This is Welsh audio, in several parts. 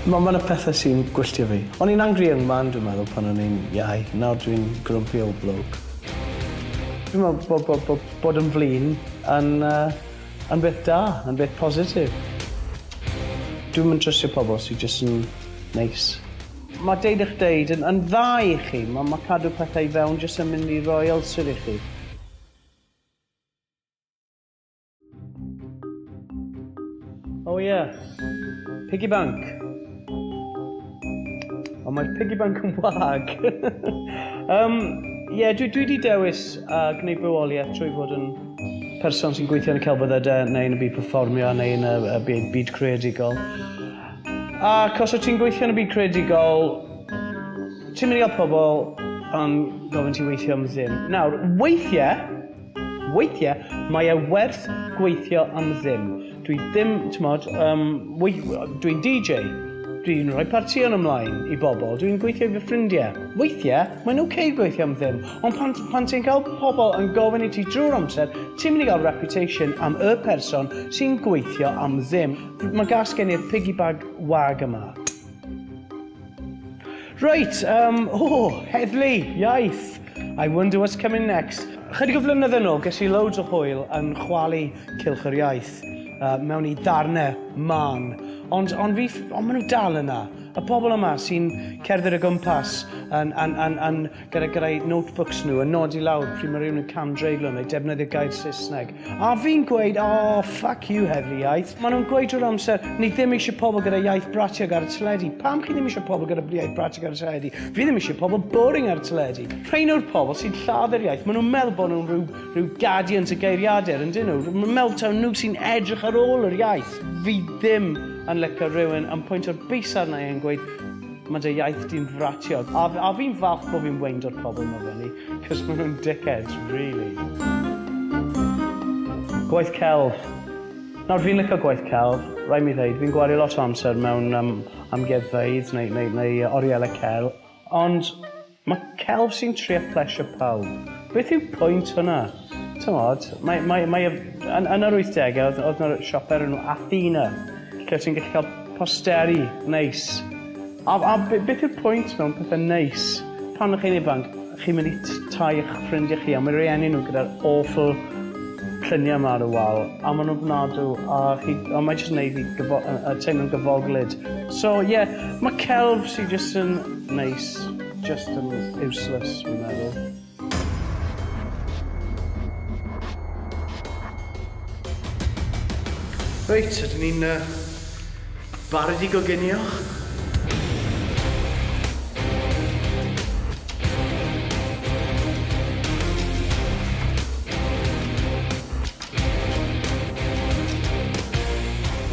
Mae yna pethau sy'n gwylltio fi. O'n i'n angry young man dwi'n meddwl pan o'n i'n iau. Nawr dwi'n grumpy old bloke. Dwi'n meddwl bod bod bod bod yn flin yn uh, Yn beth da, yn beth positif. Dwi'm yn trystio pobl sy jyst yn neis. Mae deud eich deud yn yn dda i chi, mae mae cadw pethau i fewn jyst yn mynd i roi ulcer i chi. Oh yeah. Piggy bank. Ond mae'r piggy bank yn wag. um, Ie, yeah, dwi, dwi wedi dewis a uh, gwneud bywoliaeth trwy fod yn person sy'n gweithio yn y celfyddydau neu yn y byd performio neu yn y, y byd, byd creadigol. A cos o ti'n gweithio yn y byd creadigol, ti'n mynd i gael pobl yn gofyn ti weithio am ddim. Nawr, weithiau, Weithiau mae e werth gweithio am ddim. Dwi ddim, t'mod, um, dwi'n DJ, dwi'n rhoi partïon ymlaen i bobl, dwi'n gweithio i fy ffrindiau. Weithiau, mae'n ok gweithio am ddim, ond pan, pan ti'n cael pobl yn gofyn i ti drwy'r amser, ti'n mynd i gael reputation am y person sy'n gweithio am ddim. Mae gas gen i'r piggy bag wag yma. Reit, um, o, oh, heddlu, iaith. I wonder what's coming next. Chydig o flynyddoedd yn ôl, ges i loads o hwyl yn chwalu cilch yr iaith uh, mewn i ddarnau man. Ond, ond, fi, ond maen nhw dal yna. Y pobl yma sy'n cerdded o gwmpas yn, yn, yn, yn gyda gyrrau notebooks nhw yn nodi lawr pryd mae rhywun yn cam dreiglo neu defnyddio gair Saesneg. A fi'n gweud, oh, fuck you, heddlu iaith. Maen nhw'n gweud drwy'r amser, ni ddim eisiau pobl gyda iaith bratiog ar y teledu. Pam chi ddim eisiau pobl gyda iaith bratiog ar y teledu? Fi ddim eisiau pobl boring ar y teledu. Rhain yw'r pobl sy'n lladdau'r iaith. Maen nhw'n meddwl bod nhw'n rhyw, rhyw guardians y geiriadur, yn dyn nhw. Maen meddwl taw nhw sy'n edrych ar ôl yr iaith. Fi ddim yn lyco rhywun yn pwynt o'r bus arna i yn gweud, Mae dy iaith di'n fratiog. A, a fi'n falch bod fi'n weindio'r pobl ma fyny, cos maen nhw'n dickheads, really. Gwaith celf. Nawr, fi'n licio gwaith celf, rhaid mi ddeud. Fi'n gwario lot o amser mewn um, amgueddfeydd neu, neu, neu orielau cel, ond Mae celf sy'n trio plesio pawb. Beth yw pwynt hwnna? T'mod, mae, mae, mae, yn, yn yr 80au oedd, oedd yna siop o'r enw Athena, lle ti'n gallu cael posteri neis. A, a beth yw'r pwynt mewn pethau neis? Pan ych chi'n ifanc, chi'n mynd i tai eich ffrindiau chi, a mae rhieni nhw gyda'r awful lluniau yma ar y wal, a maen nhw'n fnadw, a, chi, a mae jyst yn neud fi gyfo, uh, teimlo'n gyfoglyd. So, ie, yeah, mae celf sy'n jyst yn Neis, just yn useless fi'n meddwl. Reit, ydyn ni'n uh, barod i goginio?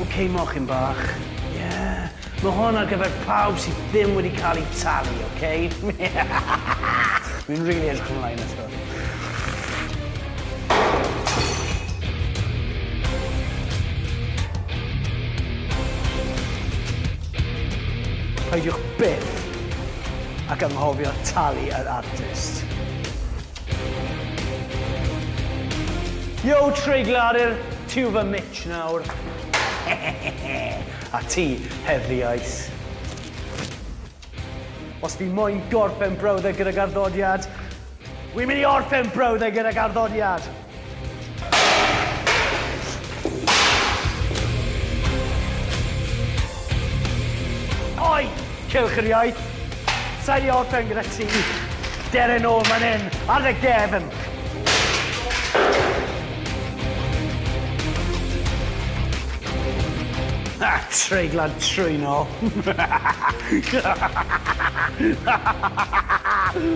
Ok, mochyn bach. Yeah. Mae hwn ar gyfer pawb sydd ddim wedi cael eu talu, oce? Dwi'n rili edrych ymlaen at hwn. Peidiwch byth ac anghofio talu yr artist. Yo, treigladur, ti yw fy mitsh nawr. A ti, Heddlu Ice. Os fi moyn gorffen brawddeg gydag arddodiad, wi'n mynd i orffen brawddeg gydag arddodiad! Oi! Cylch yr iaith. Sain i orffen gyda ti. Dere nôl man hyn, ar dy gefn. Ha, treiglad trwynol.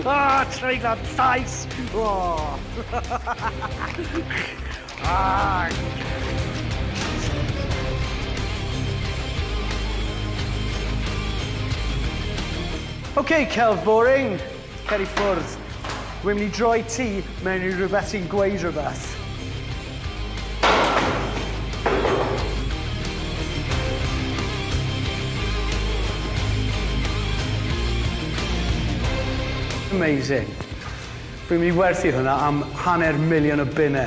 Ah, treiglad llais! Oh. Ok, celf boring. Cer i ffwrdd. Dwi'n mynd i droi ti mewn i rhywbeth sy'n gweud rhywbeth. Amazing. Fi'n mynd i werthu hwnna am hanner miliwn o bunne.